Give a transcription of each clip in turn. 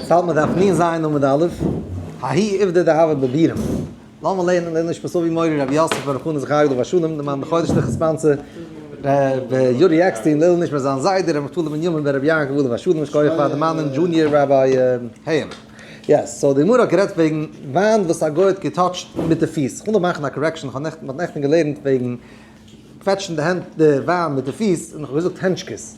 סאו מ'דארף נין זיין עמוד א', האי איבדא דהוה בבירם, לאמיר לערנען די נשמת אבי מורי רבי יוסף בן רחונא זכריה עליו השלום, דעם אנדערן חודש תחת ספאנסער ר' יורי עקסטין, לעילוי נשמת זיין זיידע ר' נפתלי בנימין בן רבי יעקב עליו השלום, יישר כח פאר דערמאנען דזשוניער ראביי העם. יעס, סאו די גמרא האט גערעדט וועגן וויין וואס א גוי האט געטאטשט מיט די פיס, כ'וויל נאר מאכן א קארעקשאן, כ'האב נעכטן, מ'האט נעכטן געלערנט וועגן קוועטשן די הענט, די וויין מיט די פיס, און כ'האב געזאגט הענטשקעס,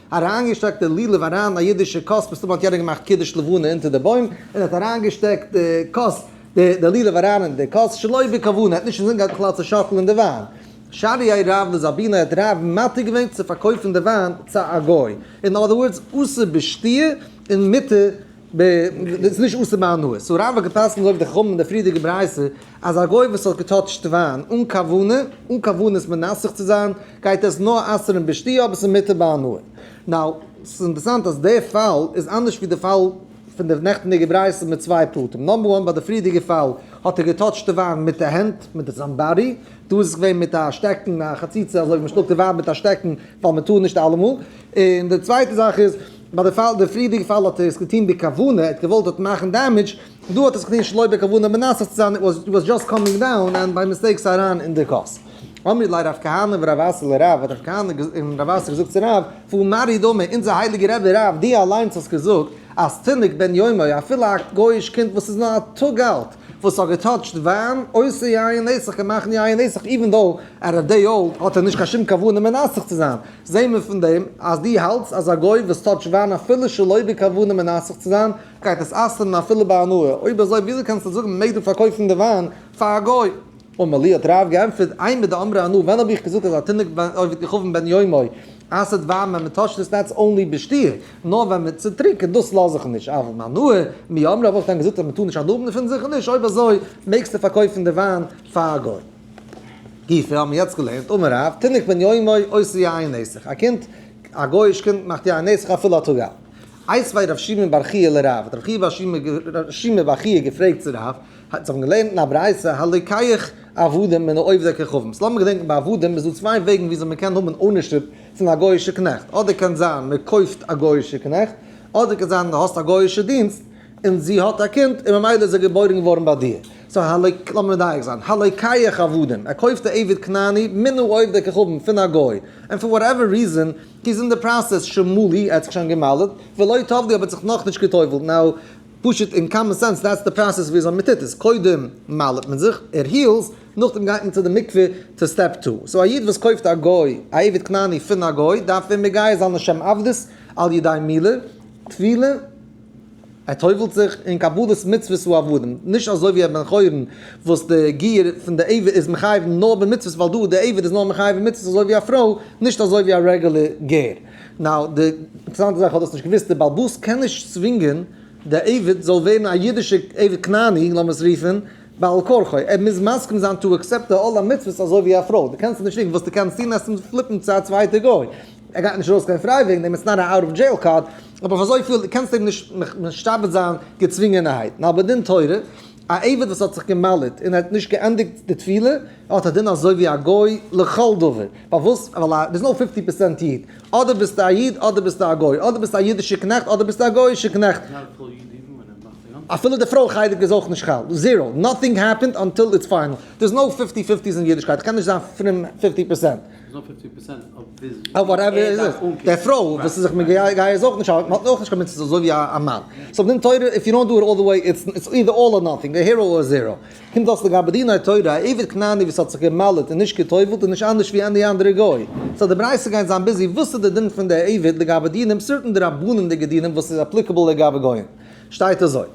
אריינגעשטעקט די לולב אריין א אידישע כוס, מסתמא האט יענער געמאכט קידוש לבנה אונטער די בוים, און האט אריינגעשטעקט די כוס, די לולב אריין אין די כוס שלא בכוונה, האט נישט אינזין געהאט בכלל צו שאקלען די וויין, שרי ע רב לזאבינו האט רב מתיר געווען צו פארקויפן די וויין צו א גוי, אין אדער ווארדס אסור בשתיה און מותר ב. ס'איז נישט אסור ביי הנאה. סאו רמב ם האט געפסקנט זאגט דער חמ ד אין די פריערדיגע ברייתא אז א גוי וואס האט געטאטשט וויין אן כוונה, אן כוונת מנסך צו זיין, גייט עס נאר אסר'ן בשתייה אבער ס'איז מותר ביי הנאה. נאו, ס'איז אינטערסאנט אז דער פאל איז אנדערש ווי די פאל פון די נעכטיגע ברייתא מיט צוויי פרטים. נאמבער וואן, ביי די פריערדיגע פאל האט ער געטאטשט די וויין מיט די הענט, מיט די זיין באדי. דא איז עס געווען מיט א שטעקן, א חציצה, אזוי ווי מ'שלאגט די וויין מיט א שטעקן, ווייל מ'טאר נישט אלעמאל. און די צווייטע זאך איז. ביי די פאל די פריערדיגע פאל האט ער עס געטון בכוונה, ער האט געוואלט דארט מאכן דעמעדזש, דא האט ער עס געטון שלא בכוונה מנסה צו זיין, איט וואס דזשאסט קאמינג דאון ענד ביי מיסטעיק ס'איז אריין אין די קארס. אמרי לי רב כהנא ורב אסי לרב האט רב כהנא און רב אסי געזאגט צו רב, פון מרי דמי, אונזער הייליגע רבי רב דו אליינס האסט געזאגט אז תינוק בן יומו אפילו א גוי'איש קינד וואס איז נאר א טאג אלט וואס האט געטאטשט וויין אויסער יין נסך קען מאכן יין נסך איווען דאו ער איז דעי אולד האט ער נישט קיין שום כוונה מנסך צו זיין, זעהן מיר פון דעם אז דו האלטסט אז א גוי וואס טאטש וויין אפילו שלא בכוונה מנסך צו זיין גייט עס אסר'ן אפילו בהנאה, אויב אזוי וויאזוי קענסטו זאגן מ'מעג דא פארקויפן די וויין פאר א גוי? אומר לי האט רב גענטפערט איין מיט די אמרי אנא ווען האב איך געזאגט אז א תינוק עובד ככבן בן יומו אסר'ט וויין ווען מ'טאטשט עס נאט אנלי בשתי' נאר ווען מיט צו טרינקען דאס לאז איך נישט אבער בהנאה מי אמר האב איך דען געזאגט אז מ'טאר נישט אנאבן פון זיך נישט אויב אזוי מעגסטו פארקויפן די וויין פאר א גוי? גיפער האבן מיר יעצט געלערנט, אמר רב, תינוק בן יומו עושה יין אין נסך, א קינד, א גוי'איש קינד מאכט יין אין נסך אפילו א טאג אלט. איז וי' רבי שמעון בר חייא לרב, האט רבי שמעון בר חייא געפרעגט צו רב, האט זיך געלערנט אין א ברייתא, הלקח עבדים מן העובדי כוכבים, ס'לאמיר געדענקן ביי עבדים איז דא צוויי וועגן וויאזוי מען קען האבן אונערשיפ פון א גוי'אישע קנעכט, אדער קען זיין מען קויפט א גוי'אישע קנעכט, אדער קען זיין די האסט א גוי'אישע דינסט און זי האט א קינד און ממילא איז ער געבוירן געווארן ביי דיר. סא הלואי, לאמיר מדייק זיין, הלואי קייך עבדים, ער קויפט א עבד כנעני מן העובדי כוכבים פון א גוי, און פאר וואטעווער ריזען הי איז אין די פראסעס שמאלי, ער האט זיך שוין געמל'עט, ולא טובלי אבער האט זיך נאכנישט גע'טובל'ט, נאו, פשוט אין קאמאן סענס דעטס די פראסעס וויאזוי מען טוט עס, קודם מל'עט מען זיך, ער היעלס, נאכדעם גייט מען צו די מקווה צו סטעפ טו, סא א איד וואס קויפט א גוי, א עבד כנעני פון א גוי, דארף ער מגייר זיין לשם עבדות על ידי מילה, טבילה, ער טובל'ט זיך אין קבלת מצוות ועבדים, נישט אזוי ווי א בן חורין וואס די גר פון די עבד איז מחייב נאר במצוות ווייל דא די עבד איז נאר מחייב אין מצוות אזוי ווי א פרוי, נישט אזוי ווי א רעגולער גר. נאו, די אינטערסאנטע זאך איך האב דאס נישט געוואוסט, די בעל בית קען נישט צווינגען די עבד זאל ווערן א אידישע עבד כנעני לאמיר עס רופן בעל כרחו, ער מוז מסכים זיין טו עקסעפט די עול המצוות אזוי ווי א פרוי, די קענסט אים נישט צווינגען, וואס די קענסט טון עסט אים פליפן צו א צווייטע גוי, ער גייט נישט ארויס קיין פריי וועגן דעם, איטס נאט א אוט אוו דזשעיל קארד. אבער אויף אזויפיל, דו קענסט אים נישט משתעבד זיין געצווינגענערהייט, נאר בדין תורה, א עבד וואס האט זיך גע'מל'עט און ער האט נישט געענדיגט די תפילה, האט א דין אזוי ווי א גוי לכל דבר, פארוואס? ווייל א, ביזט נאר פיפטי פערסענט איד, אדער ביזטו א איד אדער ביזטו א גוי, אדער ביזטו א אידישע קנעכט אדער ביזטו א גויאישע קנעכט, אפילו די פרוי חלק איז אויך נישט חל, זירא, נאטינג העפענד אנטיל איטס פיינעל, דער איז נאו פיפטי פיפטי'ס אין אידישקייט, כ'קען נישט זיין פרום פיפטי פערסענט. איז נאר פופצן פערסענט אויף ביז ווי ער דארף אנקומען. אויף וואטעווער איז עס. די פרוי וואס איז זיך מגייס איז אויך נישט מען האט אויך נישט קיין מצות אזוי ווי א מאן. סאו בדין תורה איף יו דאנט דא איט אלל די וועי איטס איטס אידער אלל אר נאטינג א הירא אר זירא. קומט דאס לגבי דיני תורה א עבד כנעני וואס האט זיך גע'מל'עט און נישט גע'טובל'ט איז נישט אנדערש ווי עני אנדערע גוי. סאו די בריית'עס גייען זיין ביזי וואס איז די דין פון די עבד לגבי דינים סערטען דרבנן'דיגע דינים וואס איז אפליקעבל לגבי גוים. שטייט אזוי.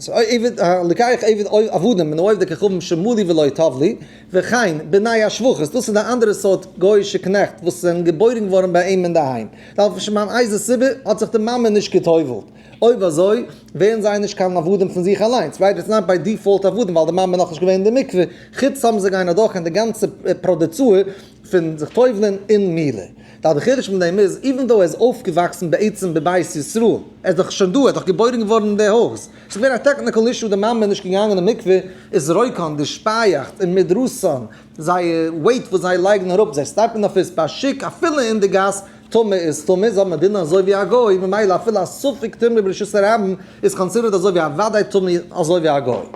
סאו עבד, לקח עבד עבדים מן העובדי כוכבים שמעו לי ולא טוב לי. וכן, בני השבחות, דאס איז די אנדערע סארט גוי'אישע קנעכט וואס זענען געבוירן געווארן ביי אים אינדערהיים, ווייל אויף שום אן איזה סיבה האט זיך די מאמע נישט גע'טובל'ט. אויב אזוי, ווערן זיי נישט קיין עבדים פון זיך אליינס, זיי ווערן זיין ביי דיפאולט עבדים ווייל די מאמע איז נאכנישט געווען אין די מקווה, חוץ סתם זיי גייען אדורך אין די גאנצע פראדעצור, פון זיך טובל'ען אין מילה. די אלטע חידוש פון דעם איז, איווען דאו ער איז אויפגעוואקסן בעצם בבית ישראל, ער איז דאך שוין דא, ער איז דאך געבוירן געווארן אין די הויז, ס'איז געווען א טעקניקעל אישו, די מאמע איז נישט געגאנגען אין מקווה, איז רויקאן, די שפייאכץ, און מדרסאן, זייער וועיט וואס זיי לייגן אראפ, זיי סטארטן אויף איז פאר שיק, אפילו אין די גאס, טומאה איז טומאה, איז אבער דינען אזוי ווי א גוי, ממילא אפילו א ספק טומאה ברשות הרבים איז קאנסידערט אזוי ווי א וודאי טומאה אזוי ווי א גוי.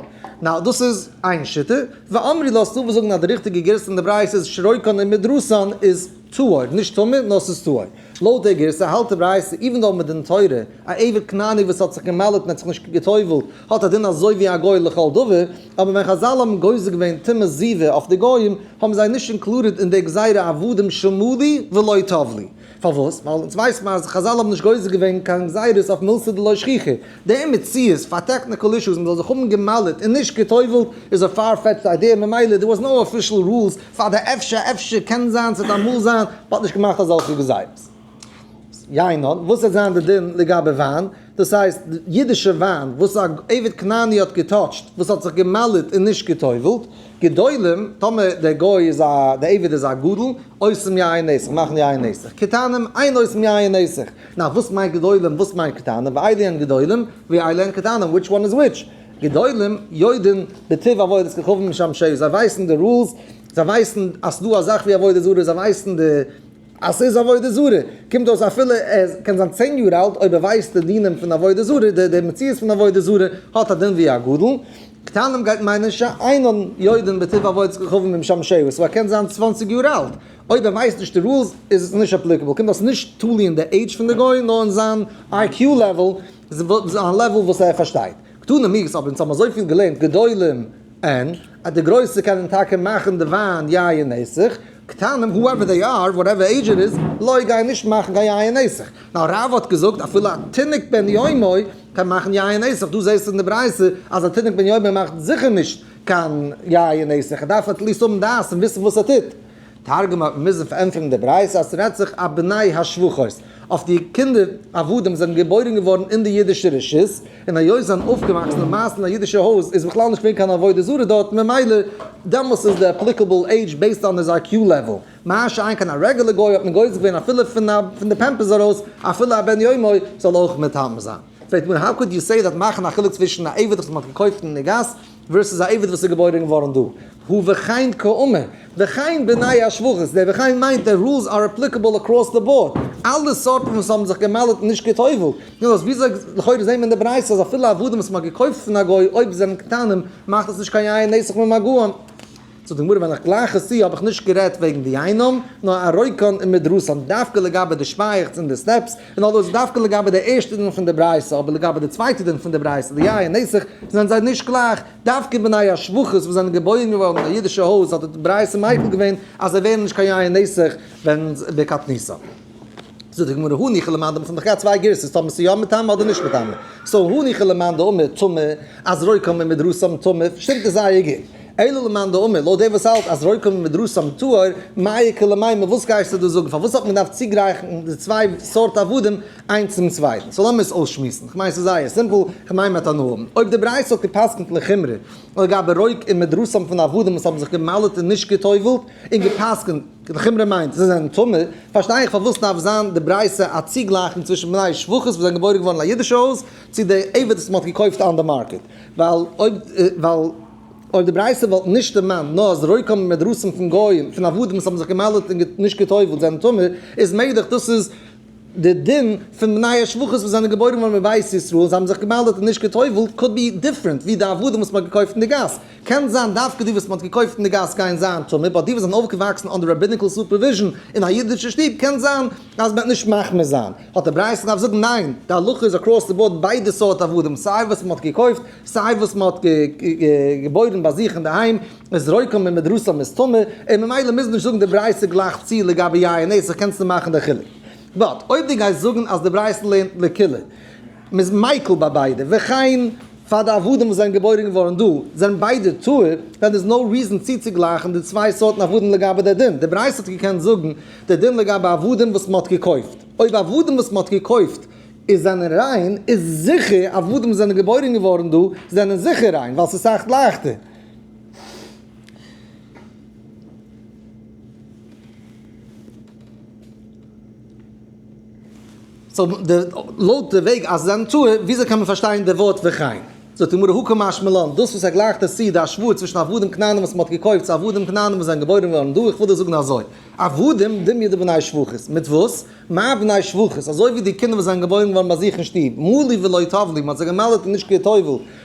נאו, דאס איז איין שיטה. ואמרי לאז תבוא זאגן אז די ריכטיגע גירסא אין די ברייתא איז שרויקן און מדרסן איז טהור, נישט טמא, נאר ס'איז טהור. לויט די גירסא האלט די ברייתא איווען דאו מען דינט תורה, א עבד כנעני וואס האט זיך געמל'עט און האט זיך נישט געטובל'ט האט א דין אזוי ווי א גוי לכל דבר, אבער ווען חזל האבן גוזר געווען טומאת זיווה אויף די גוים, האבן זיי נישט אינקלודעד אין די גזירה עבדים שמעו לי ולא טוב לי. פארוואס? ווייל אונז ווייסט מען אז חזל האבן נישט גוזר געווען קיין גזירות אויף מלסה דלא שכיחי. די מציאות פאר טעקניקעל אישוס, מ'זאל זיך האבן גע'מל'ט און נישט גע'טובל'ט, איז א פאר-פעטשד איידיע, ממילא דער וואס נאו אפישעל רולס פאר די אפשר אפשר קען זיין ס'וועט אמאל זיין, האט נישט געמאכט אזעלכע גזירות. יין נאר וואס וועט זיין די דין לגבי וויין? דאס הייסט אידישע וויין וואס א עבד כנעני האט געטאטשט וואס האט זיך גע'מל'עט און נישט גע'טובל'ט, גדולים, טאמער דער גוי איז א, דער עבד איז א גדול, עושים יין נסך, מאכן יין נסך, קטנים, אין עושים יין נסך. נאר וואס מיינט גדולים וואס מיינט קטנים? ואילי הן גדולים ואילי הן קטנים, וויטש וואן איז וויטש? גדולים יודען בטיב עבודת כוכבים משמשים, זיי ווייסן די רולס, זיי ווייסן אז ס'דא א זאך ווי עבודה זרה, זיי ווייסן די. אז ס'איז עבודה זרה, קומט אויס אפילו ער קען זיין צען יאר אלט, אויב ער ווייסט די דינים פון עבודה זרה, די די מציאות פון עבודה זרה, האט א דין ווי א גדול, קטנים גייט מיינען שאינן יודען בטיב עבודת כוכבים אם שם שאו, סאו ער קען זיין צוואנציג יאר אלט, אויב ער ווייסט נישט די רולס איז עס נישט אפליקעבל, קומט אויס נישט תלוי אין די עידזש פון די גוי, נאר אין זיין איי קיו לעוועל, זיין לעוועל וואס ער פארשטייט. קטנים מיעס אבער אונז האבן אזויפיל געלערנט גדולים אין. אז די גרויסע קענען טאקע מאכן די וויין יין נסך, קטנים הואעווער דעי אר, וואטעווער עידזש איט איז, לוי גייען נישט מאכן קיין יין נסך, נאר רבא האט געזאגט אפילו א תינוק בן יומו קען מאכן יין נסך, דא זעסטו אין די ברייתא אז א תינוק בן יומו מאכט זיכער נישט קיין יין נסך, ער דארף עטליסט האבן דעת און וויסן וואס ער טוט. תרגום האט מען מוזן פארענטפערן די ברייתא אז ס'רעדט זיך אויף בני השבחות, אויף די קינדער עבדים וואס זענען געבוירן געווארן אין די אידישע רשות, און היות זיי זענען אויפגעוואקסן למעשה אין א אידישע הויז איז בכלל נישט געווען קיין עבודה זרה דארט, ממילא דעמאלס איז די עפליקעבל עידזש בעיסד אן היז איי קיו לעוועל, מה שאין כן א רעגולער גוי האט מען גוזר געווען אפילו פון די פעמפערס ארויס אפילו א בן יומו זאל אויך מיטהאלטן זיין. פרעגט מיר האו קאוד יו סעי דעט מאכן א חילוק צווישן א עבד וואס מען האט געקויפט אין די גאס, ווערסוס א עבד וואס איז געבוירען געווארען דא. הוא וכן כאומר, וכן בני השבועות, די וכן מיינט די רולס אר אפליקעבל אקראס די באורד, אלע סארטן וואס האבן זיך געמל'עט נישט כתובה, נו אז וויאזוי, לכאורה זעהן מיר אין די ברייתא אז אפילו עבדים וואס מען האט געקויפט פון א גוי אויב זיי זענען קטנים מאכט עס נישט קיין יין נסך ממגעון. זאגט די גמרא ווען איך גלייך עס צו האב איך נישט גערעדט וועגן די גיהנום, נאר א רויקאן און מיט רוסלאנד, דווקא לגבי די שפייעכטס און די סטעפס, און אויב איז דווקא לגבי די ערשטע דין פון די ברייתא, אבער לגבי די צווייטע דין פון די ברייתא די יין און נסך זענען זיי נישט גלייך, דווקא בני השבחות וואס זענען געבוירן געווארן אין א אידישע הויז האט די ברייתא מייחל געווען אז זיי ווערן נישט קיין יין און נסך ווען בקטנותם. זאגט די גמרא הא ניחא למאן דאמר ס'זענען דאך געהאט צוויי גירסות טאמער ס'איז יא מטמא אדער נישט מטמא, סאו הא ניחא למאן דאמר טמא אז רוי קאן מען מיט דרסם טמא שטימט עס זייער גוט, אלא למאן דאמר לויט דער וואס האלט אז רוי קאן מען מיט דרסם טהור, מאי יקר למימר וואס גייסטו דא זאגן פארוואס האט מען געדארפט צוגרייכן די צוויי סארט עבדים איינס צום צווייטן, סאו לאמיר עס אויסשמועסן, כ'מיין ס'איז זייער סימפל, כ'מיין מ'האט הנאה, אויב די ברייתא האט גע'פסק'נט לחומרא לגבי רוי קאן מען דרסם פון עבדים וואס האבן זיך גע'מל'עט און נישט גע'טובל'ט און גע'פסק'נט. די חומרא מיינט זיי זענען טמא, פארשטיי איך פארוואס דארף זיין די ברייתא א צוגלייכונג צווישן בני שפחות וואס זענען געבוירן געווארן אין א אידישע הויז צו די עבד וואס מ'האט געקויפט אן די מארקעט, ווייל אויב די ברייתא וואלט נישט דערמאנט נאר אז רויקים און מדרסים פון גויים, פון עבדים וואס האבן זיך געמעלדעט און נישט גע'טובל'ט זענען טמא, איז מעגליך דאס איז די דין פון בני השבחות וואס זענען געבוירן געווארן בבית ישראל, זיי האבן זיך געמעלדעט און נישט גע'טובל'ט, קאוד בי דיפרענט ווי די עבדים וואס מ'האט געקויפט אין די גאס. קען זיין דווקא די וואס מ'האט געקויפט אין די גאס גייען זיין טמא, באט די וואס זענען אויפגעוואקסן אנדער רעביניקל סופערוויזשן אין א אידישע שטוב קען זיין אז מ'וועט נישט מחמיר זיין. האט די ברייתא געדארפט זאגן ניין, די הלכה איז אקראס די באורד ביידע סארט עבדים, סיי וואס מ'האט געקויפט, סיי וואס מ'האט געבוירן ביי זיך אינדערהיים, איז רויכען ממדרסא מסתמא, און ממילא מוזן נישט זאגן די ברייתא גלייך צו לגבי יין און עסן קענסטו מאכן די חילוק. באט אויב די גייסט זאגן אז די ברייתא לערנט לקולא, מ'איז מיקל ביי ביידע, וכן פאר די עבדים וואס זענען געבוירן געווארן דא, זענען ביידע טהור, דען איז נאו ריזען צוצוגלייכן די צוויי סארטן עבדים לגבי די דין, די ברייתא האט געקענט זאגן די דין לגבי עבדים וואס מ'האט געקויפט, אויב עבדים וואס מ'האט געקויפט איז זענען ריין, איז זיכער עבדים וואס זענען געבוירן געווארן דא זענען זיכער ריין, ווייל ס'איז סאך לייכטער. סאו די לויט די וועג אז זיין תאוה וויאזוי קען מען פארשטיין די ווארט וכן זאגט די גמרא הא קא משמע לן דאס וואס ער גלייכט עס צו די השוואה צווישן עבדים כנענים וואס מען האט געקויפט צו עבדים כנענים וואס זענען געבוירן געווארן דא איך וויל דיר זאגן אזוי עבדים דמי די בני שבחית מיט וואס מה בני שבחית אזוי ווי די קינדער וואס זענען געבוירן געווארן ביי זיך אין שטוב מלי ולא טב לי מען האט זיי געמעלדעט און נישט כיתובו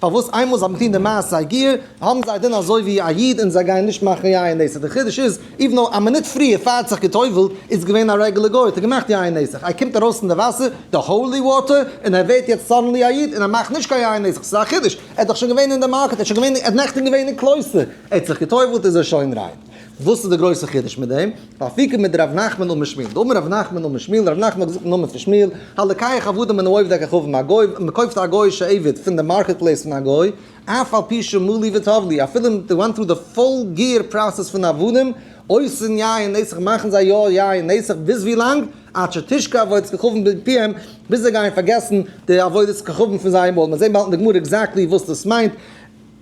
פארוואס איינמאל זיי האבן געטון די מעשה הגיור האבן זיי דען אזוי ווי א איד און זיי גייען נישט מאכן יין נסך, די חידוש איז איוו נאו א מינוט פריער פאר האט זיך גע'טובל'ט איז געווען א רעגולער גוי האט ער געמאכט יין נסך איי קומט ארויס פון די וואסער די האולי וואטער און ער ווערט יעצט סאדענלי א איד און ער מאכט נישט קיין יין נסך ס'איז א חידוש ער איז דאך שוין געווען אין די מארקעט ער איז שוין געווען ער האט נעכטען געווען אין קלויסטער ער האט זיך גע'טובל'ט איז ער שוין ריין. וואס איז די גרויסע חידוש מיט דעם? אפיקומן מיט ר' נחמן און מיט שמואל. די אמר ר' נחמן און מיט שמואל, ר' נחמן האט געזאגט אין נאמען פון שמואל, הלקח עבדים מן העובד הכחוב מן הגוי, מען קויפט א גוי'אישע עבד פון די מארקעט פלעיס פון א גוי, אף על פי שהוא מלי וטוב לי, אפילו מען ווענט טרו די פול גיער פראסעס פון עבדים, אויסן יין נסך מאכן זיי יא יין נסך ביז ווי לאנג? עד שתשקע עבודת כחובם בפיהם, ביז זיי גייען פארגעסן די עבודת כחובם פון זייער מויל, מען זעט באלד אין די גמרא עקזעקטלי וואס דאס מיינט.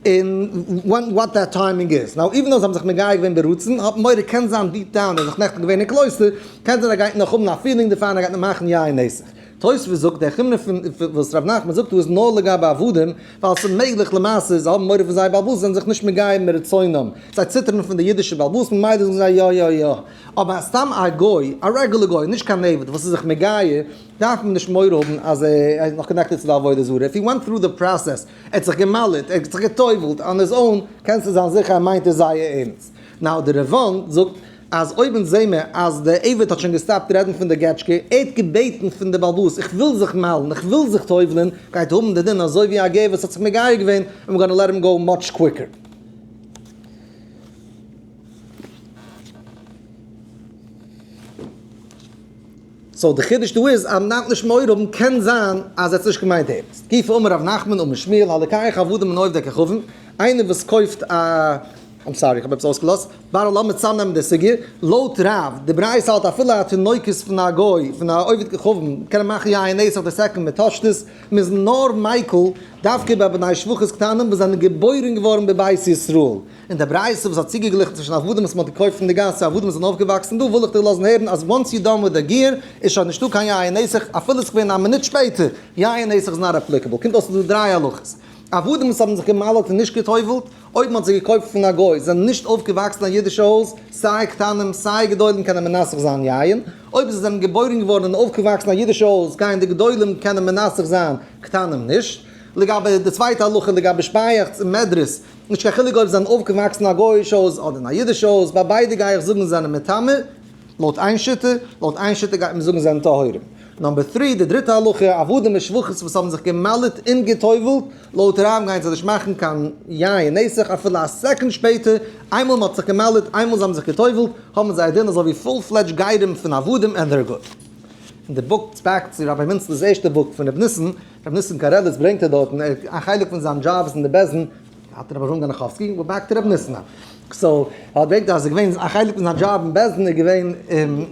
און ווען וואט דעט טיימינג איז. נאו איווען אויב זיי האבן זיך מגיה געווען ברצון, האט מוהרא ש קען זיין דיפ דאון ער האט זיך נעכטן געווען אין קלויסטער, קען זיין ער גייט נאך האבן א פילינג דערפאר און ער גייט נאך מאכן יין נסך. תוספות זאגט, דער חומרא פון וואס ר' נחמן זאגט דא איז נאר לגבי עבדים, ווייל ס'איז מעגליך למעשה זיי האבן מורא פון זייער בעל הבית זיי זענען זיך נישט מגיה מרצונם, זיי ציטערן פון די אידישע בעל הבית ממילא זאגן זיי יא יא יא. אבער סתם א גוי, א רעגולער גוי, נישט קיין עבד, וואס איז זיך מגיה, דארף מען נישט מורא האבן אז ער איז נאך קאנעקטעד צו די עבודה זרה, איף הי ווענט טרו די פראסעס. ער האט זיך געמאלעט, ער האט זיך גע'טובל'ט אן היז אוין, קענסטו זיין זיכער ער מיינט עס זייער ערנסט. נאו די רעוואן זאגט אז אויב אונז זעהן מיר אז דער עבד האט שוין געסטאפט רעדן פון די געטשקע, ער האט געבעטן פון די באלבאס איך וויל זיך מל'ן, איך וויל זיך טובל'ן, גייט האבן די דין אזוי ווי א גר וואס האט זיך מגייר געווען, איים גאנא לעט הים גאו מאטש קוויקער. סאו די חידוש דא איז אז מ'דארף נישט מורא האבן, קען זיין אז ער האט עס נישט געמיינט ערנסט. גופא אמר ר' נחמן אמר שמואל הלקח האבדים מן עובדי כוכבים, איינער וואס קויפט א, איים סארי כ'האב עפעס אויסגעלאזט, בערל לאמיר צאמנעמען די סוגיא, לויט רב די ברייתא האט אפילו א תינוקות פון א גוי פון א עובד כוכבים קען ער מאכן יין נס אויף די סעקונד מיט תשתית, מ'איז נאר מיקל דווקא ביי בני שבח'ס קטנים וואס זענען געבוירן געווארן בבית ישראל. און די ברייתא וואס האט צוגעגליכן צווישן עבדים וואס מען האט געקויפט פון די גאס צו עבדים וואס זענען אויפגעוואקסן דא וויל איך דיר לאזן הערן אז once you done with the gear איז שוין נישטא קיין יין נסך אפילו עס איז געווען א מינוט שפעטער יין נסך איז נאט אפליקעבל קומט אויס ס'איז דא דריי הלכות עבדים וואס האבן זיך געמל'ט און נישט גע'טובל'ט אויב מען האט זיי געקויפט פון א גוי זענען נישט אויפגעוואקסן אין א אידישע הויז סיי קטנים סיי גדולים קענען מנסך זיין יין אויב זיי זענען געבוירן געווארן און אויפגעוואקסן אין א אידישע הויז גייען די גדולים קענען מנסך זיין קטנים נישט לגבי די צווייטע הלכה לגבי שפייעכץ און מעדרעס. נישט קיין חילוק אויב זיי זענען אויפגעוואקסן אין א גוי'איש הויז אדער אין א אידיש הויז, ביי ביידע גיי איך זאגן זיי זענען מטמא, לויט איין שיטה, לויט איין שיטה גייט מען זאגן זיי זענען טהורים. נאמבער טרי, די דריטע הלכה, עבדים ושבוכות וואס האבן זיך גע'מל'עט און גע'טובל'ט, לויט רמב ם גייען זיי נישט מאכן קיין יין נסך אפילו א סעקאנד שפעטער, איינמאל מען האט זיך גע'מל'עט, איינמאל זיי האבן זיך גע'טובל'ט, האבן זיי א דין אזוי ווי פול פלעדזש גרים פון עבדים ענד דער גוט. אין די בוק, בעק צו רבי מנצל'ס ערשטע בוק פון ר' ניסן, רבי ניסן קארעליס ברענגט ער דארטן ער א חלק פון זיין דזשאב איז אין די בעסען האט ער אברהם גאנעכאווסקי וואס באקט רבי ניסן א קסאו ער האט בעקט אז ער געווען א חלק פון זיין דזשאב אין בעסען איז געווען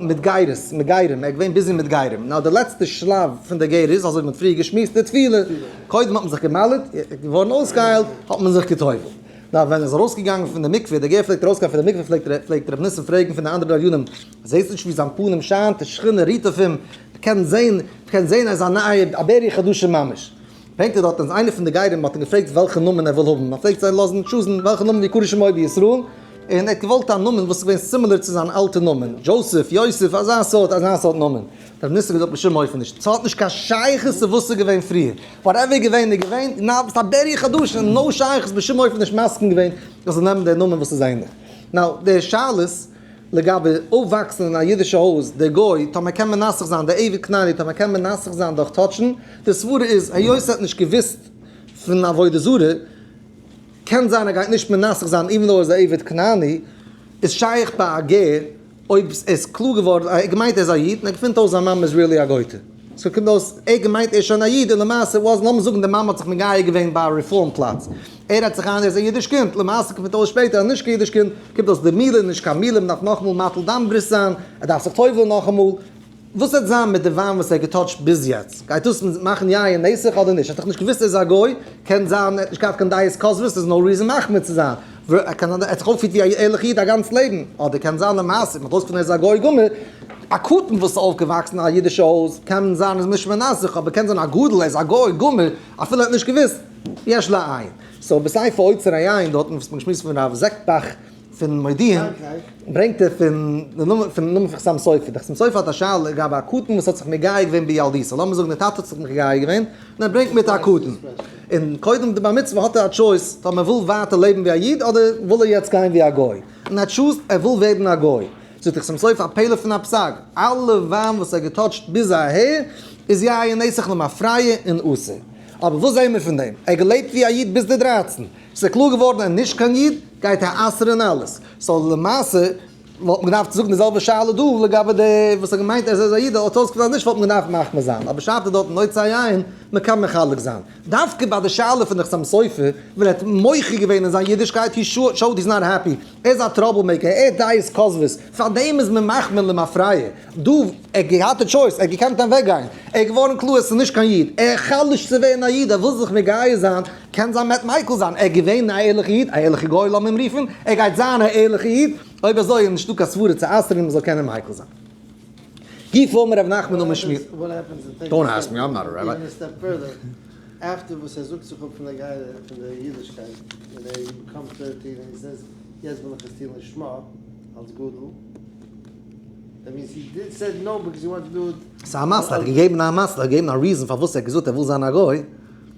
מתגיירס מגיירים ער איז געווען ביזי מיט גיירים נאר די לעצטע שלב פון די גר איז אזוי ווי מען האט פריער געשמועסט די תפילה קודם האט מען זיך געמעלדט געווארן אויסגעהיילט האט מען זיך געטובל'ט נאר ווען ער איז ארויסגעגאנגען פון די מקווה די גר פלעגט ארויסגיין פון די מקווה פלעגט רבי ניסן פרעגן פון די אנדערע גליונים זעסט נישט ווי זיין פנים שיינט די שכינה רוהט אויף אים. כ'קען זעהן, כ'קען זעהן אז ס'איז א נייע, א בערי חדשה ממש. ברענגט ער דארט אז איינער פון די גרים האט אים געפרעגט וועלכע נאמען ער וויל האבן, מען פלעגט זיי לאזן טשוזן וועלכע נאמען ווי קרא שמי בישראל, און ער האט געוואלט א נאמען וואס איז געווען סימילער צו זיין אלטע נאמען, דזשאוסעף, יוסף, אזא סארט, אזא סארט נאמען. דער מיניסטער האט געזאגט בשום אופן נישט, ס'האט נישט קיין שייכות צו וואס ס'איז געווען פריער, וואטעווער איז געווען איז געווען, נאו, ס'איז א בערי חדשה, נאו שייכות, בשום אופן נישט מסכים געווען אז זיי זאלן נעמען דער נאמען וואס איז ענליך. נאו, די שאלות. לגבי אויפוואקסן אין א אידישע הויז, דער גוי, טאמער קען מנסח זיין, דער עבד כנעני, טאמער קען מנסח זיין דורך טאטשן, די סברא איז, היות ער האט נישט געוואוסט פון עבודה זרה, קען זיין ער גייט נישט מנסח זיין איווען דאו ער איז א עבד כנעני, איז שייך ביי א גר אויב ער איז קלאר געווארן, ער האט געמיינט ער איז א איד און ער געפינט אויס זיין מאמע איז ריעלי א גויטע. סאו קומט אויס ער געמיינט ער איז שוין א איד און למעשה וואס לאמיר זאגן די מאמע האט זיך מגייר געווען ביי א רעפארם פלאץ ער רעדט זיך איין ער איז א אידיש קינד למעשה קומט אויס שפעטער אז נישט קיין אידיש קינד קומט אויס די מילה איז נישט קיין מילה מ'דארף נאכאמאל מטיל דם ברית זיין ער דארף זיך טובל'ן נאכאמאל וואס וועט זיין מיט די וויין וואס ער האט געטאטשט ביז יעצט גייט דאס מאכן יין נסך אדער נישט ער האט דאך נישט געוואוסט ער איז א גוי קען זיין ער האט נישט געהאט קיין דעת כוזבות ס'איז נאו ריזען מחמיר צו זיין. ווער ער קען זיין, ער האט זיך אויפפירט ווי א ערליכע איד א גאנץ לעבן, אדער קען זיין למעשה מ'האט אויסגעפונען ער איז א גוי גמור, א קטן וואס איז אויפגעוואקסן אין א אידישע הויז קען זיין איז משמר נפשו, אבער קען זיין א גדול ער איז א גוי גמור אפילו ער האט נישט געוואוסט, יש לעיין. סאו בספר אוצר עיין דארטן וואס מ'האט געשמועסט פון הרב זעקבאך פון מודיעין ברענגט ער פון די נאמען פון נאמען פון חתם סופר, די חתם סופר האט א שאלה לגבי א קטן וואס האט זיך מגייר געווען בילדותו, לאמיר זאגן די טאטע האט זיך מגייר געווען און ער ברענגט מיט א קטן. און קודם די בר מצוה האט ער א טשויס צו האבן ער וויל ווייטער לעבן ווי א איד אדער וויל ער יעצט גיין ווי א גוי. און ער טשוזט ער וויל ווערן א גוי. זאגט דער חתם סופר א פלא פון א פסק, אלע וויין וואס ער האט געטאטשט ביז אהער איז י א נסך למה פריה און אסור. אבער וואס זעהן מיר פון דעם? ער האט געלעבט ווי א איד ביז די דרייצן. ס'איז קלאר געווארן ער איז נישט קיין איד גייט ער אסור אין אלעס. סאו למעשה וואלט מען געדארפט זאגן די זעלבע שאלה דא לגבי די וואס האט געמיינט אז ער איז א איד האט אויסגעזען אז נישט וואלט מען געדארפט מחמיר זיין אבער שארף איז דארט נוצה היין מען קען מחלק זיין דווקא ביי די שאלה פון די חתם סופר ווען ער האט מוחה געווען אין זיין אידישקייט הי שאוט היז נאט העפי ער איז א טראבל מעיקער ער האט דעות כוזבות פאר דעם איז מען מחמיר למפרע דא ער האט געהאט א טשויס ער האט געקענט אוועק גיין ער איז געווארן קלאר עס איז נישט קיין איד ער חלש'ט צו ווערן א איד ער וויל זיך מגיה זיין קען זיין מ'עט מיקל זיין, ער איז געווען א ערליכע איד, א ערליכע גוי לאמיר אים רופן, ער גייט זיין א ערליכע איד, אויב אזוי איז נישטא קיין סברה צו אסר'ן אים מ'זאל קענען מיקל זיין. ג פ אמר ר' נחמן אמר שמואל.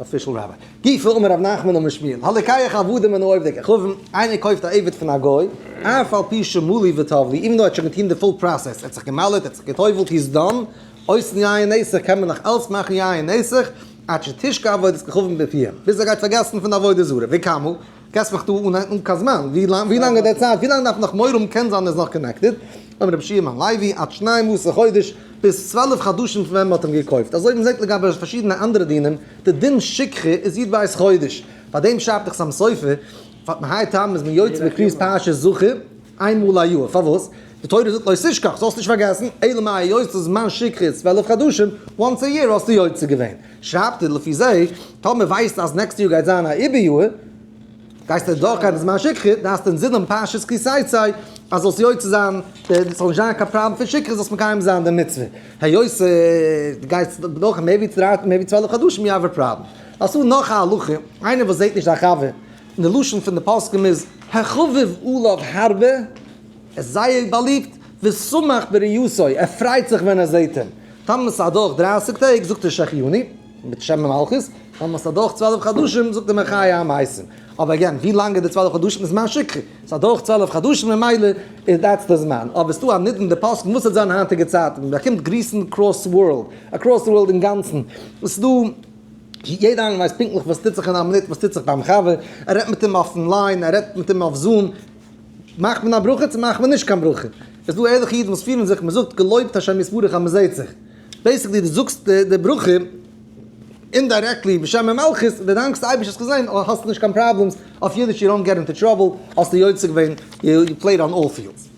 אפישעל ראביי, ג פ אמר ר' נחמן אמר שמואל, הלקח עבדים אינו עובדי כוכבים, איינער קויפט א עבד פון א גוי, אף על פי שמלי וטובלי, איווען דאו ער האט שוין געטוהן די פול פראסעס, ער האט זיך געמל'עט, ער האט זיך גע'טובל'ט, הי איז דאן, אויסן יין נסך קען מען נאך אלץ מאכן יין נסך, עד שתשקע עבודת כוכבים בפיהם, ביז ער גייט פארגעסן פון די עבודה זרה, וכמו. געסט מיך דא אן אן קיין זמן, ווי לאנג ווי לאנג איז די צייט ווי לאנג דארף נאך מורא האבן קען זיין מען איז נאך קאנעקטעד, אומר רבי שמעון הלוי עד שנים עשר חודש, ביז צוועלף חדשים פון ווען מען האט אים געקויפט, אזוי ווי מען זעט לגבי פארשידענע אנדערע דינים, די דין שכחה איז יעדע ווייס חודש, פאר דעם שרייבט דאך שם סופר, פאר מהאי טעמא איז מען יוצא בקביעות פרשת זכור איין מאל א יאר, פארוואס? די תורה זאגט לא תשכח, זאלסט נישט פארגעסן, אלא מאי היות זמן שכחה איז צוועלף חדשים, once a year האסטו יוצא געווען. שרייבט ער לפי זה, טאמער ווייסטו אז נעקסטע יאר גייט זיין א עיבור יאר, גייסטו עס דורכגיין בזמן שכחה, דו האסט אינזין דעם פרשת כי תצא, אז זאלסט יוצא זיין, עס זאל נישט זיין קיין פראבלעם פון שכחה, זאלסט מקיים זיין די מצוה, היות דו גייסט דורך מער ווי צוועלף חדשים, יו האוו א פראבלעם. אלס אן נאך א הלכה, איינער וואס זעט נישט זיין חבר, און די לשון פון די פוסקים איז, החביב עליו הרבה, ער איז זייער באליבט, ושמח בראיותו, ער פרייט זיך ווען ער זעט אים. טאמער ס'איז אדורך דרייסיג טעג, זאגט ער שהחייני, מיט שם המלכות, טאמער ס'איז אדורך צוועלף חדשים, זאגט ער מחיה המתים. אבער עגעין, ווי לאנג איז די צוועלף חדשים איז זמן שקרי, ס'איז אדורך צוועלף חדשים ממילא איז דעטס די זמן. אבער ס'דא א נידון די פסק'ן וואס וועט זיין היינטיגע צייטן, מען באקומט גריסן קראס ווארלד, אקראס די ווארלד אינגאנצן, עס איז דא, יעדער איינער ווייסט פונקטליך וואס טוט זיך אין א מינוט, וואס טוט זיך ביים חבר, ער רעדט מיט אים אויפן ליין, ער רעדט מיט אים אויף זום, מאכט מען א ברכה צו מאכט מען נישט קיין ברכה? איז דא ערליכע אידן וואס פירן זיך מען זאגט געלויבט השם יתברך אז מען זעהט זיך, בעיסיקלי דו זאגסט די ברכה אינדיירעקטלי בשם המלכות ווען דו דאנקסט אייבערשטן האסט געזעהן אז האסט נישט קיין פראבלעמס אויף אידיש יו דאנט געט אינטו טראבל האסטו יוצא געווען יו פלעיד אן אלל פיעלדס.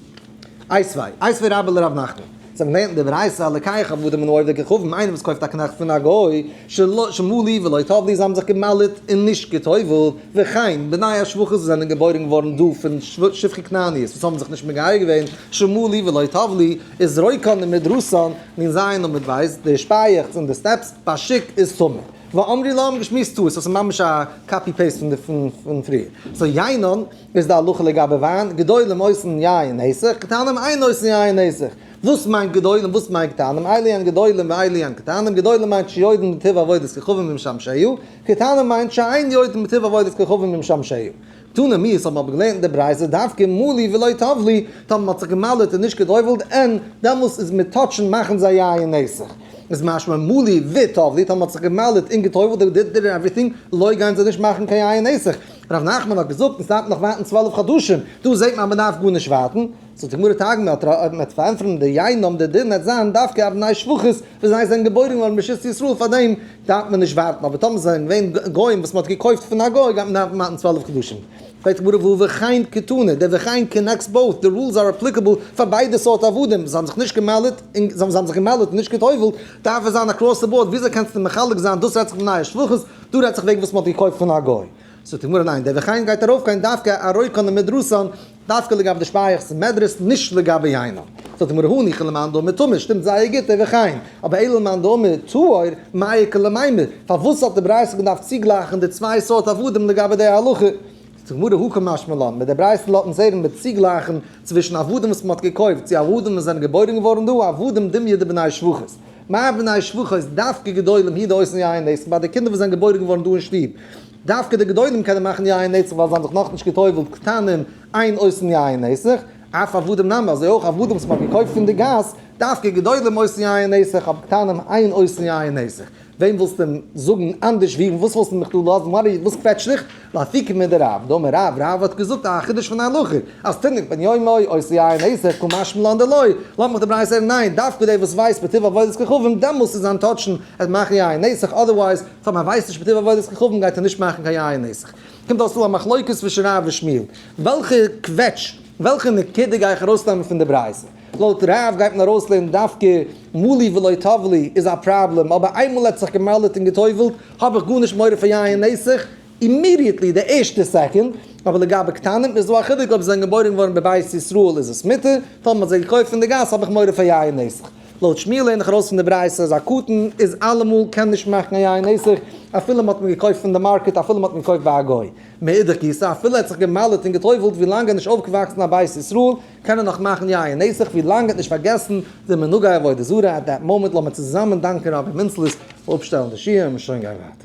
איי סווי, איי סווי רבה לרב נחמן. צום לערנען די ברייתא על לקח עבדים אינו עובר ככבודם איינער וואס קויפט א קנאכט פון א גוי שלא שמעו לי ולא טוב לי זיי האבן זיך געמל'עט און נישט גע'טובל'ט וכן בני השפחות וואס זענען געבוירן געווארן דא פון שפחי כנעניות וואס האבן זיך נישט מגייר געווען שמעו לי ולא טוב לי איז רויקאן און מדרסאן און זיין און מיט ווייסט די שפייעכטס און די סטעפס פאשיק איז טמא ואמרי להם געשמועסט טעות עס איז ממש א קאפי פעיסט פון פון פריער סאו יינאן. איז די הלכה לגבי וויין, גדולים אויסן יין נסך, קטנים אין אויסן יין נסך. וואס מיינט גדולים וואס מיינט קטנים, אי לענ גדולים ואי לענ קטנים, גדולים מיינט שיודען בטיב עבודת כוכבים ומשמשיו, קטנים מיינט שאין יודען בטיב עבודת כוכבים ומשמשיו. תנא מ איז האבן אבער געלערנט אין די ברייתא דווקא מלי ולא טב לי, טאמער מען האט זיך געמל'עט און נישט גע'טובל'ט אין, דעמאלס איז מיט טאטשן מאכן זיי יין נסך. איז משמע מלי וטב לי, טאמער מען האט זיך געמל'עט און גע'טובל'ט, די דיטער און עווריטינג, לוי' גייען זיי נישט מאכן קיין יין נסך. ר' נחמן האט געזאגט מען סטארט נאך ווארטן צוועלף חדשים, דא זעהט מען אז מען דארף גארנישט ווארטן, זאגט די גמרא תג מ, אויב מען וועט פארענטפערן די ייהנום די דין וועט זיין דווקא אויף בני שפחות וואס זיי זענען געבוירן געווארן בשסט ישראל פארדעם דארף מען נישט ווארטן אבער טאמער זיי זענען געווען גוים וואס מען האט געקויפט פון א גוי גייט מען דארפן ווארטן צוועלף חדשים. פרעגט די גמרא וואו וכאין קטנה די וכאין קאנעקטס באות די רולס אר אפליקעבל פאר ביידע סארט עבדים זיי האבן זיך נישט געמעלדט און זיי האבן זיך געמעלדט און נישט גע'טובל'ט דארף עס זיין אקראס די באורד וויאזוי קענסטו מחלק זיין דאס רעדט זיך פון בני שפחות דא רעדט זיך וועגן וואס מען האט געקויפט פון א גוי. זאגט די גמרא ניין, דער וכן גייט ארויף קיין דווקא ארויקאן און מדרסאן, דווקא לגבי די שפייעכץ און מדרס, נישט לגבי יינא. זאגט די גמרא הא ניחא למאן דאמר טמא, שטימט זייער גוט דער וכן, אבער אילו למאן דאמר טהור, מאי קא למימר, פארוואס האט די ברייתא געדארפט צוגלייכן די צוויי סארט עבדים לגבי די הלכה? די גמרא הכה משמע לן, מיט די ברייתא לאזט אונז הערן מען צוגלייכן צווישן עבדים וואס מען האט געקויפט צו עבדים וואס זענען געבוירן געווארן דא, עבדים דמיא דבני שבחות. מיין בני שבחות דווקא גדולים הי ד עושים יין נצח ביי די קינדער וואס זענען געבוירן געווארן דא אין שטוב. דווקא די גדולים קענען מאכן יין נצח ווייל זיי האבן זיך נאכנישט געטובל'ט קטנים עיין עושים יין נצח, אף עבדים נמי, אזוי אויך עבדים וואס מען האט געקויפט פון די גאס, דווקא גדולים עושים יין נצח אבער קטנים עיין עושים יין נצח. וועם ווילסטו זאגן אנדערש ווי? וואס ווילסטו מיך דא לאזן? ווארי וואס קוועטשט דיך? לאפי ק מיט די רב, די אמר רב, רב האט געזאגט א חידוש פון א הלכה אז תינוק בן יומו עושה יין עיסה כ מש מ לאנדא לוי, לאמיר מיך די ברייתא הערן ניין, דווקא דער וואס ווייסט בטוב עבודת כוכבים דעמאלס איז זיין טאטשן ער מאכן יין עיסה אדערווייז פאר מען ווייסט נישט בטוב עבודת כוכבים גייט ער נישט מאכן קיין יין עיסה קומט אויס דא א מחלוקת צווישן רב און שמואל וועלכע קוועטש וועלכע נקודה גיי איך ארויסנעמען פון די ברייתא? לויט רב גייט מען ארויסלערנען דווקא מלי ולא טבלי איז א פראבלעם, אבער איינמאל ער האט זיך געמל'עט און גע'טובל'ט האב איך גארנישט מורא פון יין נסך אימידיעטלי די ערשטע סעקונד, אבער לגבי קטנים איז דא א חילוק אויב זיי זענען געבוירן געווארן בבית ישראל איז עס מותר, טאמער מ'האט זיי געקויפט פון די גאס האב איך מורא פון יין נסך. לויט שמואל לערן איך ארויס פון די ברייתא אז א קטן איז אלעמאל קען נישט מאכן א יין נסך אפילו מ'האט אים געקויפט פון די מארקעט אפילו מ'האט אים געקויפט ביי א גוי, מאידך גיסא אפילו ער האט זיך געמל'עט און גע'טובל'ט ווילאנג ער איז נישט אויפגעוואקסן אין א בית ישראל, קען ער נאך מאכן יין נסך ווי לאנג ער האט נישט פארגעסן די מנהגי עבודה זרה עט דעט מאמענט לאמיר צוזאמען דאנקען רבי מינץ ליס פאר אפשטעלן די שיעור און שוין גיין ווייטער.